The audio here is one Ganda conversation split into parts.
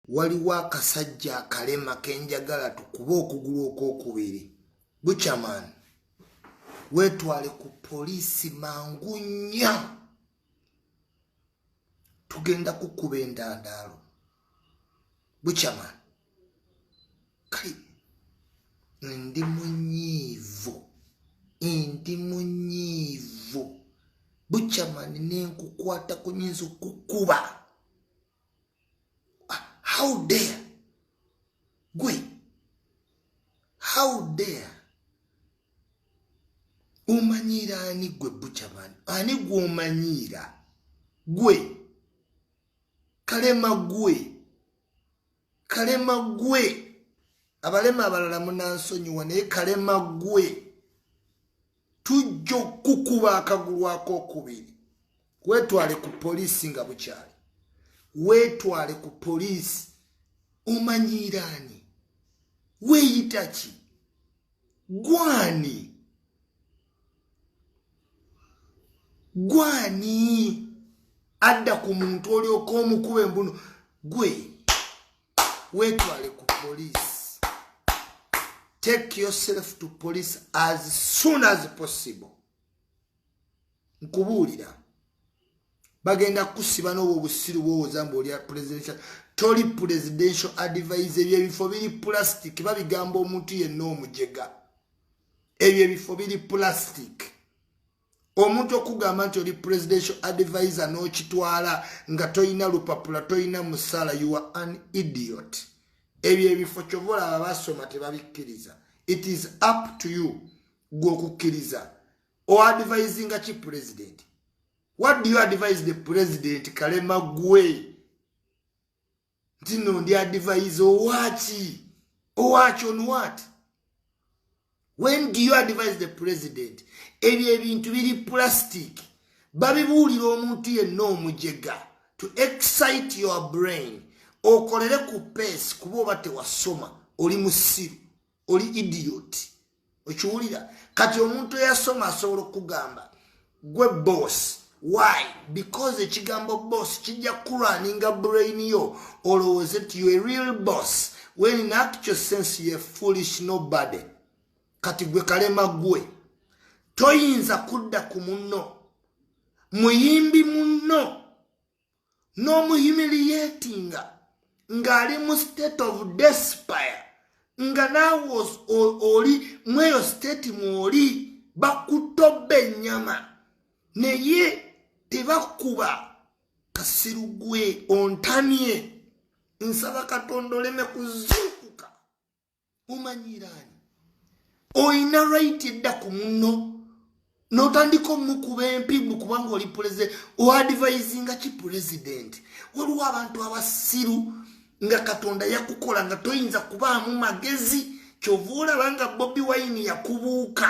waliwo akasajja akalema kenjagala tukuba okugulu okwokubiri buchaman wetwale ku poliisi mangu nya tugenda kukuba endandaalo buchaman kali ndi munyiivu ndi munyiivu buchaman nenkukwata kunyinza okukuba ah, how dare gwe how dare omanyiira ani gwe buchaman ani gwomanyiira gwe kalema gwe kalema gwe abalema abalala munansonyiwa naye kalema gwe tujja okukukuba akagulu akokubiri wetwale ku poliisi nga bukyali wetwale ku poliisi omanyiiraani weyita ki gwani gwani adda ku muntu olyoka omukuba embunu gwe wetwale ku police take yourself to police as soon as possible nkubuulira bagenda kusiba noobwo obusiru bwowoza mbu olya presidential toli presidential advise ebyo ebifo biri plastic babigamba omuntu yenna omujega ebyo ebifo biri plastic omuntu okugamba nti oli presidential advisor n'okitwala nga tolina lupapula tolina musala you are an idiot ebyo ebifo kyova olaba basoma tebabikkiriza it is up to you gwe okukkiriza oadvisinga ki president what do you advise the president kalema gwe nti no ndi advise owaaki owaaki on what when do you advise the president ebyo ebintu biri plastic babibuulira omuntu yenna omujega to excite your brain okolere ku peace kuba oba tewasoma oli musiru oli idiot okiwulira kati omuntu eyasoma asobola okugamba gwe boss why because ekigambo boss kijja kuraninga brain yo olowooze ti yo a real boss when in actual sense ye foolish nobody kati gwe kalema gwe toyinza kudda ku munno muyimbi munno n'omuhimiliyetinga ng'ali mu state of despire nga naawe oli mweyo state mwoli bakutte obba ennyama naye tebakuba kasiru gwe ontamye nsaba katonda oleme kuzuukuka mumanyiiraani olina right edda ku munno notandika omukuba empibu kubanga oli pulezidenti oadvisinga ki pulezidenti waliwo abantu abasiru nga katonda yakukola nga toyinza kubaamu magezi kyova olaba nga bobi wayini yakubuuka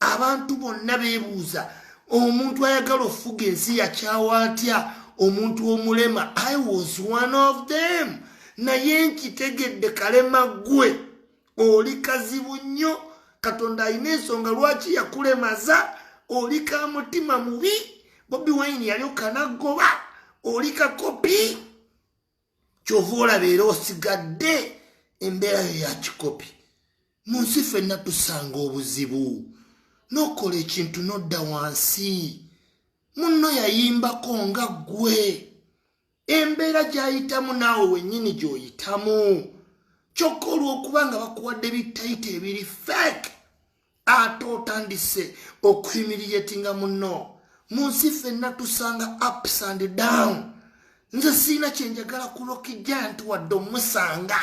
abantu bonna bebuuza omuntu ayagala okufuga ensi yakyawa atya omuntu omulema i was one of them naye nkitegedde kalema gwe oli kazibu nnyo katonda alina ensonga lwaki yakulemaza oli ka mutima mubi bobi wine yali okanagoba oli kakopi kyova olaba era osigadde embeera yo ya kikopi mu nsi fenna tusanga obuzibu nokola ekintu nodda wansi munno yayimbako nga ggwe embeera gyayitamu naawe wennyini gyoyitamu kyokka olw'okuba nga bakuwadde bitayita ebiri fake ate otandise okuhimiriyetinga muno mu nsi fenna tusanga ups and down nze siina kyenjagala kulokija nti wadde omusanga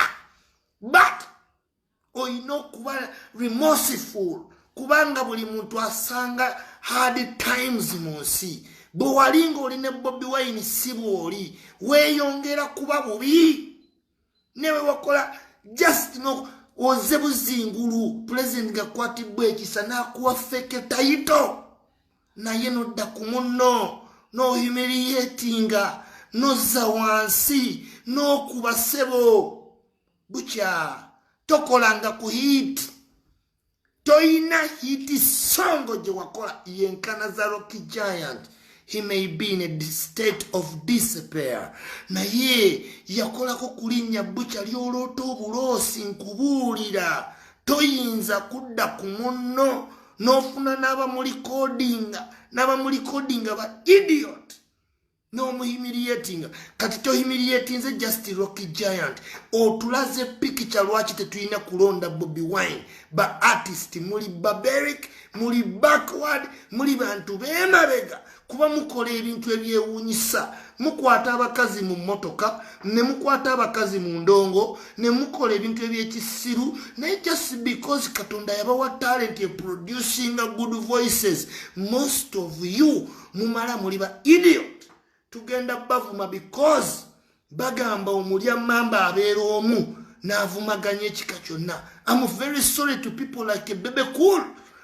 but olina okuba remorseful kubanga buli muntu asanga hard times mu nsi bwe wali ng'oli ne bobi wine si bw'oli weeyongera kuba bubi newewakola just no oze buzingulu pulezidenti gakwatibwa ekisa nakuwa feke tayito naye nodda ku munno nohumiliyetinga nozza wansi nokuba sebo bukya tokolanga ku hiiti toyina hiti songo gye wakola yenkana za rocky giant he may be in a state of dispair naye yakolako kulinnya bukya lyoloota obuloosi nkubuulira toyinza kudda ku munno n'ofuna n'abamulikoodinga n'abamulikoodinga ba idiot n'omuhimiriyetinga kati tohimiriyetinze just rocky giant otulaze pikica lwaki tetulina kulonda bobi wine ba artist muli barberic muli backward muli bantu bemabega kuba mukola ebintu ebyewunyisa mukwata abakazi mu motoka ne mukwata abakazi mu ndongo ne mukola ebintu ebyekisiru naye just because katonda yabawa talent eproducinga good voices most of you mumala muli ba idiot tugenda bavuma because bagamba omulya mamba abeera omu n'avumaganya ekika kyonna am very sorry to people like bebe cool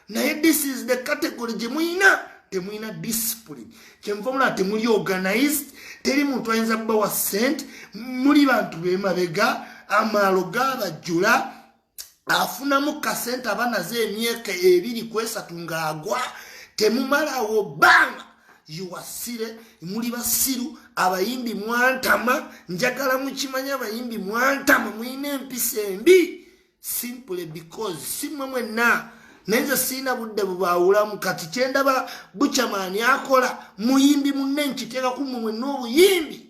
naye this is the category gye muyina temulina discipline kyenva omulaba temuli organized teri muntu ayinza kubawa sente muli bantu bemabega amaalo gabajjula afunamu kasente aba naze emyaka ebiri kwesatu ng'agwa temumalawo bbanga yiwasire muli basiru abayimbi mwantama njagala mukimanya abayimbi mwantama mulina empisa embi simply because simwe mwenna naye nze sirina budde bubaawulamu kati kyendaba bucamaani akola muyimbi munne nkiteeka ku mumwe n'obuyimbi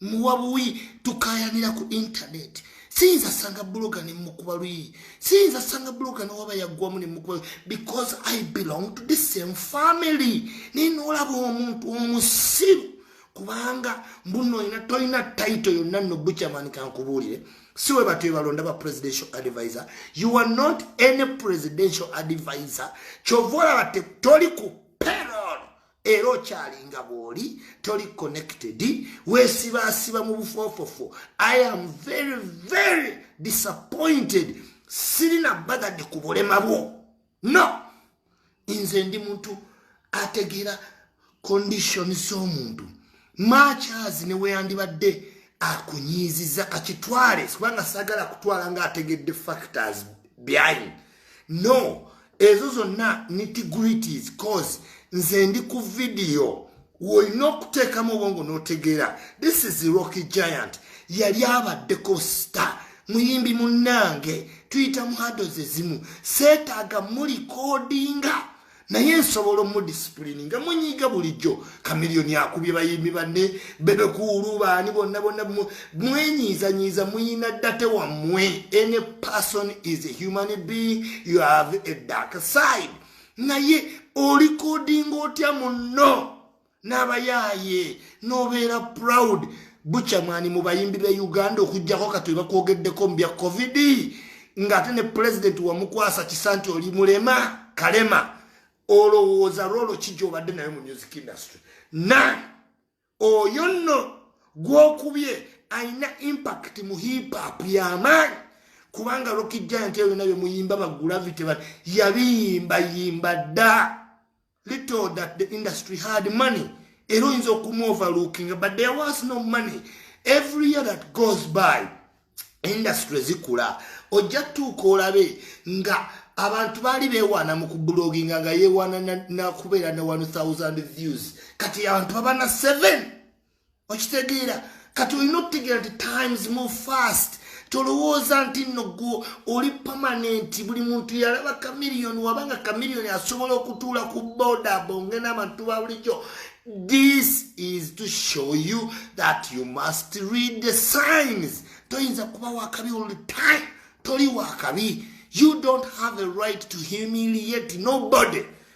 muwa buwi tukayanira ku intaneti siyinza sanga buloga ne mukuba luyi siyinza sanga buloga ne waba yaggwamu ne mukuba because i belong to the same family naye noolaba omuntu omusiru kubanga mbuno ina tolina title yonna no buchaman kankubuulire si we batyo balonda ba presidential advisor you are not any presidential advisor kyova olaba toli ku payroll era okyalinga bwoli toli connected wesibaasiba mu bufoofofo i am very very disappointed sirina bagadde ku bulema bwo no nze ndi muntu ategeera condition z'omuntu makyazi neweyandibadde akunyiiziza kakitwale kubanga sagala kutwala nga ategedde factors behind no ezo zonna nitgrities cause nze ndi ku vidiyo wolina okuteekamu obwongo n'otegeera this is rocky giant yali abaddeko star muyimbi munnange tuyita mu hados ezimu seetaaga mulikodinga naye nsobola omudisipulini nga munyiiga bulijjo kamiliyoni akubye bayimbi banne bebekuulu baani bonna bonna mwenyiizanyiiza muyina date wammwe any person is a human being you have a dark side naye olikodinga otya munno n'abayaaye n'obeera proud buchamani mu bayimbi be uganda okujjako kati webakwogeddeko mu bya covid ng'ate ne pulezidenti wamukwasa kisa nti oli mulema kalema olowooza lwolo ki gyobadde nayo mu music industry na oyo nno gwokubye alina impact mu hipap yamaanyi kubanga rokijjanti eyo byona byemuyimba bagravity yabiyimbayimba dda little that the industry had money era oyinza okumuoverlookinga but there was no money every year that goes by industry zikula ojja tuuka olabe nga abantu baali bewaana mu kubuloginga nga yewaana nakubeera na 1000 views kati abantu babana 7 okitegeera kati olina okutegeera nti times move fast tolowooza nti nno gwo oli pamanenti buli muntu yalaba kamiliyoni wabanga kamiliyoni asobola okutuula ku boda bonge n'abantu ba bulijjo this is to show you that you must read the signs toyinza kuba wakabi all the time toli wakabi you don't have a right to humiliate nobody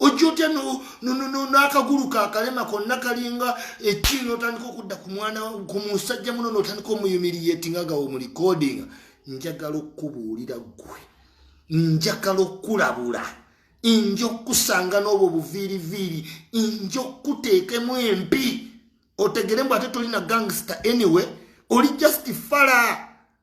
ojja otya n'akagulu kakalema konna kalinga ekiri n'otandika okudda ku mwana ku musajja muno n'otandika omuyumiriyeti nga gawo mu likodinga njagala okukubuulira ggwe njagala okukulabula nja okukusanga n'obwo buviiriviiri nja okukuteekemu empi otegere mbu ate tolina gangster anyway oli just fala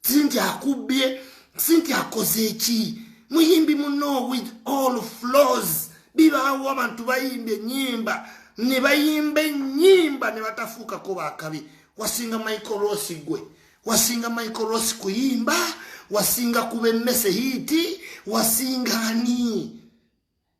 sinti akubbye sinti akoze eki muyimbi muno with all flows bibaawo abantu bayimba enyimba ne bayimba enyimba ne batafuukako bakabi wasinga michael ross gwe wasinga michael ross kuyimba wasinga kuba emmese hiiti wasinga ani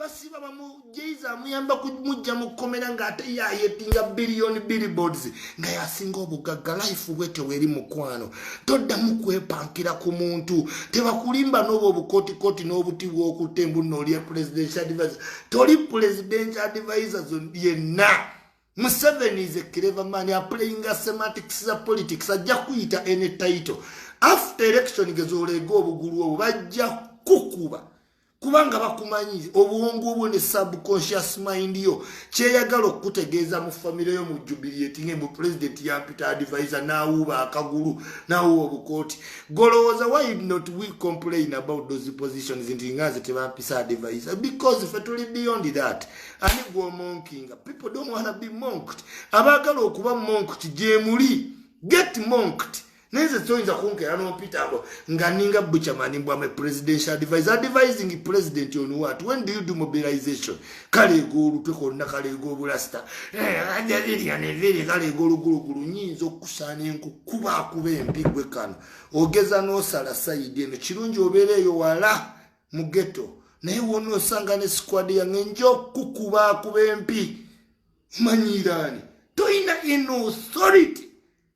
basiba bamujeiza amuyamba kumujja mu kkomera ng'ate yayetinga biliyoni billboards nga yasinga obugagga life bwe teweri mukwano toddamu kwepankira ku muntu tebakulimba n'obwo obukotikoti n'obuti bw'okutta embunna olya presidential advisor toli presidential advisors yenna museveni is a clever man aplayinga semantics za politics ajja kuyita any title after election gezoleega obugulu obwo bajja kukuba kubanga bakumanyi obwongo obwo ne subconscious mind yo kyeyagala okukutegeeza mu famire yo mu jubiliet nga mu president yampita advise nawuuba akagulu nawuuba obukooti golowooza why not we complain about those positions nti nga nze tebampisa advise because fe tuli beyond that ani gwomonkinga people don't wanna be monked abaagala okuba monked gyemuli get monked naye nze toyinza kunkeera nompitaako nga ninga buchamani mbwame presidential advise advising president on what when do you do mobilization kaleega olutwe konna kaleega obulasita eh, ajavirianeviri kaleega olugulugulu nyinza okusaana enkukuba akuba empigwe kano ogeza nosala sayidi eno kirungi obeera eyo wala mu geto naye wona osanga ne squad yange nja okukuba akuba empi manyiiraani toyina in authority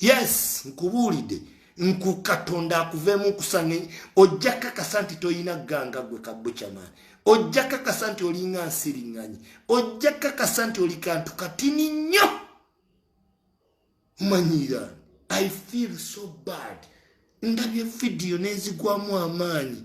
yes nkubuulidde nkukatonda akuveemu kusanga ojja kakasa nti tolina ganga gwe kabucamaani ojja kakasa nti olinga nsiriŋŋanyi ojja kakasa nti oli kantu katini nnyo manyira i feel so bad ndabye vidiyo nenzigwamu amaanyi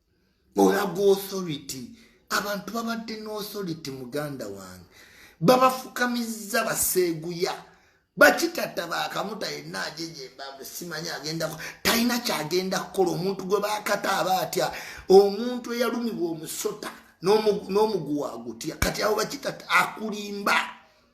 olaga authority abantu babadde ne authority muganda wange babafukamizza baseeguya bakitata bakamuta yenna ajejembambe simanyi agendako talina kyagenda kukola omuntu gwe bakata aba atya omuntu eyalumibwa omusota n'omuguwa agutya kati awo bakitata akulimba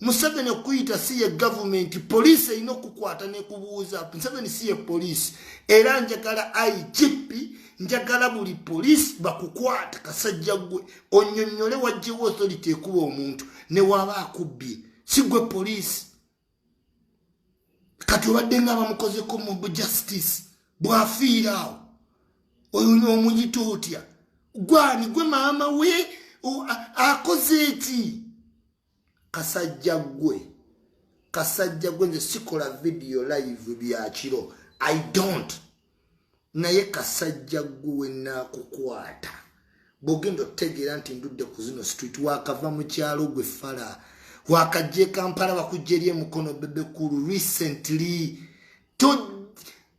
museveni okuyita si ye gavumenti poliisi erina okukwata nekubuuza museveni si ye poliisi era njagala igp njagala buli poliisi bakukwata kasajja gwe onyonyole wajjewo authority ekuba omuntu newaba akubbye si gwe poliisi kati obadde nga bamukozeko mu justice bwafiira awo oyo omuyita otya gwani gwe maama we akoze eki kasajja gwe kasajja gwe nze sikola vidiyo live bya kiro i don't naye kasajja gwe wenakukwata bwogenda otegeera nti ndudde ku zino street wakava mu kyalo gwe fala wakajja ekampala bakujja eri emukono bebekulu recently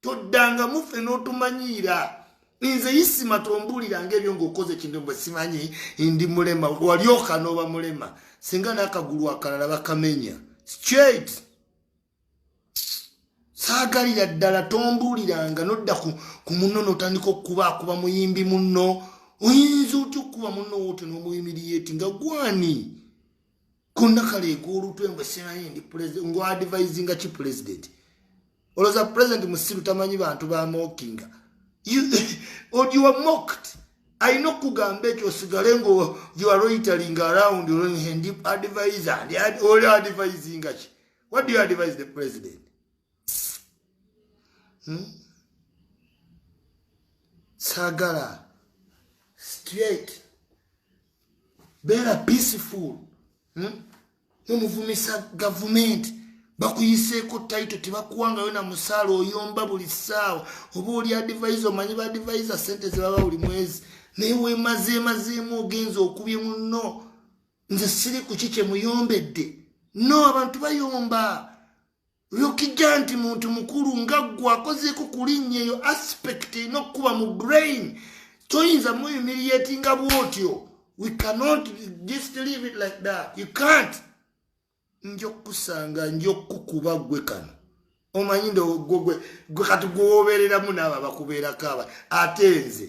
toddangamu ffe n'otumanyiira nze isima tombuuliranga ebyo ngaokoze ekintu bwe simanyi ndi mulema walyoka n'oba mulema singa n'akagulu akalala bakamenya straight saagalira ddala tombuuliranga nodda ku munno n'otandika okukuba akuba muyimbi munno oyinza otya okukuba munno wote n'omuyimiriyeeti nga gwani konna kaleeka olutwe mbu simanyi ndi pulezidenti ngu adivisinga ki pulezidenti olowooza pulezidenti musiru tamanyi bantu bamokinga ogiwa mokt alina okugamba ekyo osigale nga yoaroitaling around ndi advise oli advisinga ki what do you advise the president hmm? sagala straight beera peaceful hmm? nomuvumisa gavumenti bakuyiseeko taito tebakuwangayo na musaala oyomba buli ssaawa oba oli adivisa omanyi ba adivisa sente zebaba buli mwezi naye wemazeemazeemu ogenza okubye munno nze siri kuki kyemuyombedde no abantu bayomba lukija nti muntu mukulu nga gwe akozeeko ku linnya eyo aspect erina okukuba mu brain toyinza muyumirieti nga bwotyo we cannot just leave it like that you can't nja okukusanga nja okukukuba gwe kano omanyi ndogwe gwe kati gwewobeereramu naabo abakubeerako aba ate nze